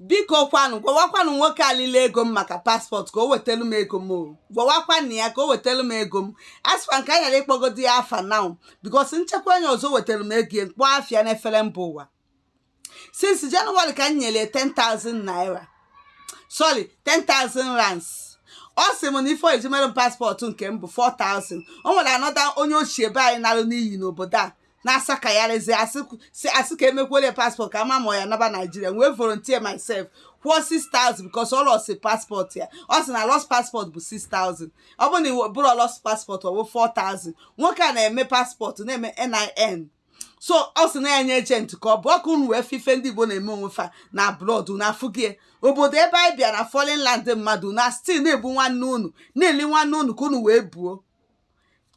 biko kwanụ gwawakwanụ nwoke a lili ego m maka paspọtụ ka o wetelu m ego m o gwawakwanụ ya ka o wetelu m ego m asịkwa m ka anyị ghara ịkpọgodi ya afa now because nchekwa onye ọzọ wetelu m ego ya m kpọọ afa ya n'efere mba ụwa since January ka m nyere 10,000 naira sorry 10,000 rands ọ sị m na ife e ji mere m paspọtụ nke m bụ 4,000 o nwere another onye ochie be anyị narụ n'iyi n'obodo a na-asị ka ya raise asị ka emekwele paspọtụ ka a ma ma ya naba Nigeria wee volunteer myself kwụọ 6000 because ọ lost paspọtụ ya ọ sị na lost paspọtụ bụ 6000 ọ bụ na ọ bụrọ lost paspọtụ ọ bụ 4000 nwoke a na-eme paspọtụ na-eme NIN so ọ sị na-enye agent ka ọ bụ ka unu wee fụ ife ndị Igbo na-eme onwe fa na abroad na afụgie obodo ebe anyị bịa na foreign land mmadụ na still na-egbu nwanne unu na-eli nwanne unu ka unu wee buo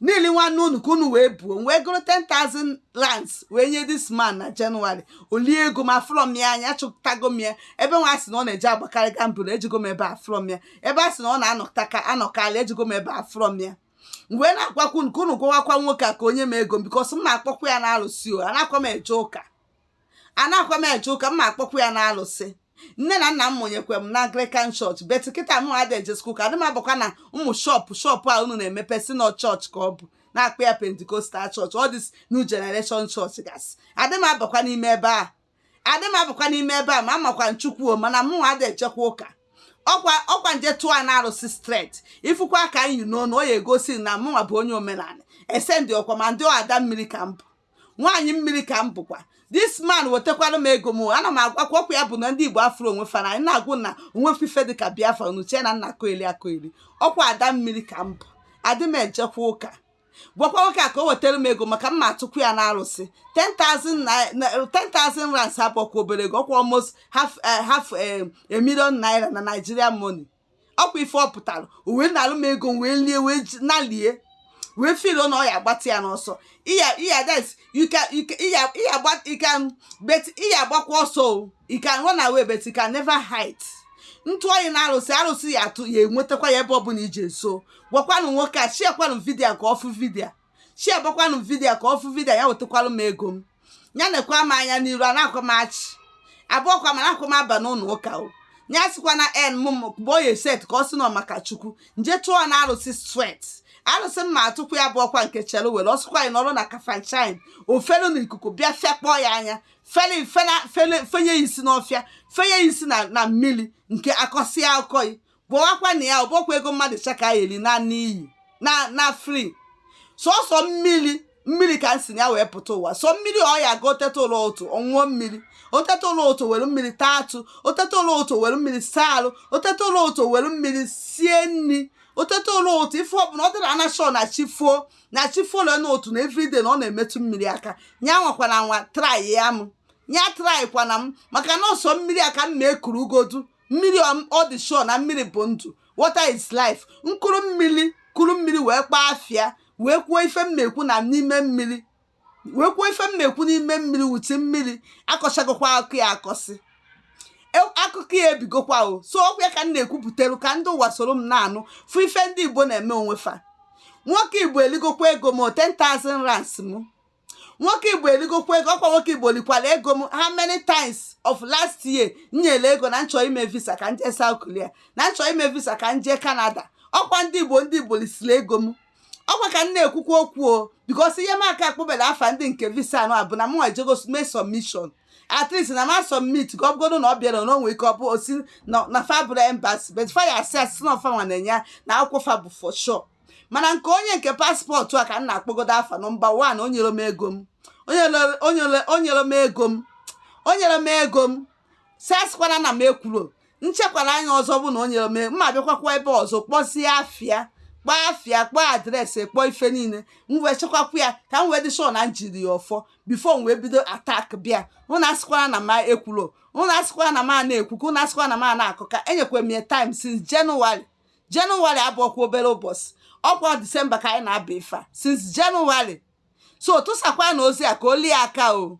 na-eli nwanne unu ka unu wee buo m wee gụrụ 10,000 rands wee nye this man na January o lie ego m afụrọ m ya anya achọtago m ya ebe nwa a sị na ọ na-eje agbakarị gamble ejego m ebe afụrọ m ya ebe a sị na ọ na-anọkarị ejego m ebe afụrọ m ya m wee na-agwakwa unu ka unu gwawakwa nwoke a ka o nye m ego m because m ma akpọkwa ya n'alụsị o anakwa m eje ụka anakwa m eje ụka m ma akpọkwa ya n'alụsị nne na nna m mụnyekwe m na Anglican church but kịta m adị ejezikwa ụka adị m abakwa na ụmụ shọpụ shọpụ a unu na-emepe sị na church ka ọ bụ na-akpọ ya Pentecostal church all this new generation church gasị adị m abakwa n'ime ebe a adị m abakwa n'ime ebe a ma amakwa m Chukwu mana mụ adị ejekwa ụka ọkwa ọkwa m je tụọ n'arụsị straight ị fụkwa aka a m yi n'onu ọ ya egosi na mụnwa bụ onye omenala esendị ọkwa ma ndị ada mmiri ka m bụ nwaanyị mmiri ka m bụkwa this man wetekwara m ego m ana m agwakwa ọkwa ya bụ na ndị Igbo afụrọ onwe fa n'anya na-agwa unu na o nwero ife dị ka Biafra unu chee na m na-akọyeli akọyeli ọkwa ada mmiri ka m bụ adị m ejekwa ụka gwakwa nwoke a ka o wetara m ego maka m ma atụkwu ya n'arụsị 10,000 rands abụrọkwa obere ego ọkwa almost half eh, half eh, a million naira na Nigerian money ọkwa ife ọ pụtara o wee nalụ m ego m wee lie wee ji- nalie wee feel na ọ ya agbatị ya n'ọsọ ị ya ị ya des you can you can ị ya ị ya gba you can but ị ya agbakwa ọsọ o you can run away but you can never hide m tụọ yi n'arụsị arụsị ya atụ ya enwetakwa yi ebe ọbụla i je so gwakwanụ nwoke a sharekwanụ video ka ọ fụ video sharebekwanụ video ka ọ fụ video ya wetakwarụ m ego m ya nekwaa m anya n'iru anakwa m achị abụrọkwa m anakwa m aba n'ụlọ ụka o ya sịkwa na en m mgbe o set ka ọ sị na ọ maka Chukwu m je tụọ n'arụsị straight arụsị m ma atụkwu ya bụ ọkwa nke chere were ọsụkwa anyị nọrọ na Kafanchan o felu n'ikuku bịa fekpọ ya anya fele fenye ya isi n'ọfịa fenye ya isi na mmiri nke akọsịa akọghị gwakwanụ ya ọ bụkwa ego mmadụ cha ka ya eri na n'iyi na na free sọsọ mmiri mmiri ka m si na ya wee pụta ụwa sọ mmiri ọ ya ga o teta ụla ụtụtụ ọ ṅụọ mmiri o teta ụla ụtụtụ were mmiri taa atụ o teta ụla ụtụtụ were mmiri saa arụ o teta ụla ụtụtụ were mmiri sie nri o teta ụla ụtụtụ ife ọbụla ọ dịrị anyị sure na chi fuo na chi fuo ole na otu na everyday na ọ na-emetụ mmiri aka ya anwakwana anwa try ya m ya trykwana m maka na ọ sọ mmiri a ka m na-ekuru ugodu mmiri ọ dị sure na mmiri bụ ndụ water is life m kuru mmiri kuru mmiri wee kpọọ afa ya wee kwuo ife m na-ekwu na n'ime mmiri wee kwuo ife m na-ekwu n'ime mmiri wuti mmiri akọsịgokwa akụkọ ya akọsị akụkọ ya ebigokwa o so ọkwa ya ka m na-ekwupụtelu ka ndị ụwa soro m na-anụ fụ ife ndị igbo na-eme onwe fa nwoke igbo eligokwa ego m 10,000 rands m nwoke igbo eligokwa ego ọkwa nwoke igbo likwara ego m how many times of last year nyere ego na m chọ ime visa ka m jee South Korea na m chọ ime visa ka m jee Canada ọkwa ndị igbo ndị igbo lisiri ego m ọkwa ka m na-ekwukwa okwu o because ihe m aka akpọbela afa ndị nke visa anụ a bụ na mụnwa ejego mee submission at least na ma submit ka ọ bụgodo na ọ bịara na o nwe ike ọ bụ o si na fa abụrọ embassy but fa ya asị asị na ọ fanwa na-enye na akwụkwọ fa bụ for sure mana nke onye nke passport a ka m na-akpọgodo afa number one o nyero m ego m o nyero- o nyero- o nyero m ego m o nyero m ego m so asịkwana na m ekwuro m chekwara anya ọzọ bụ na o nyero m ego m m abịakwakwa ebe ọzọ kpọzie afa ya kpọọ afa ya kpọọ address kpọọ ife niile m wee chekwakwa ya ka m wee dị sure na m jiri ya ọfọ before m wee bido attack bịa ụnụ asịkwara na m ekwuro ụnụ asịkwara na m a na-ekwu ka ụnụ asịkwara na m a na-akụ ka enyekwara m ya time since January January abụrọkwa obere ụbọchị ọkwa December ka anyị na-aba ife a since January so tụsakwanụ ozi a ka o luo ya aka o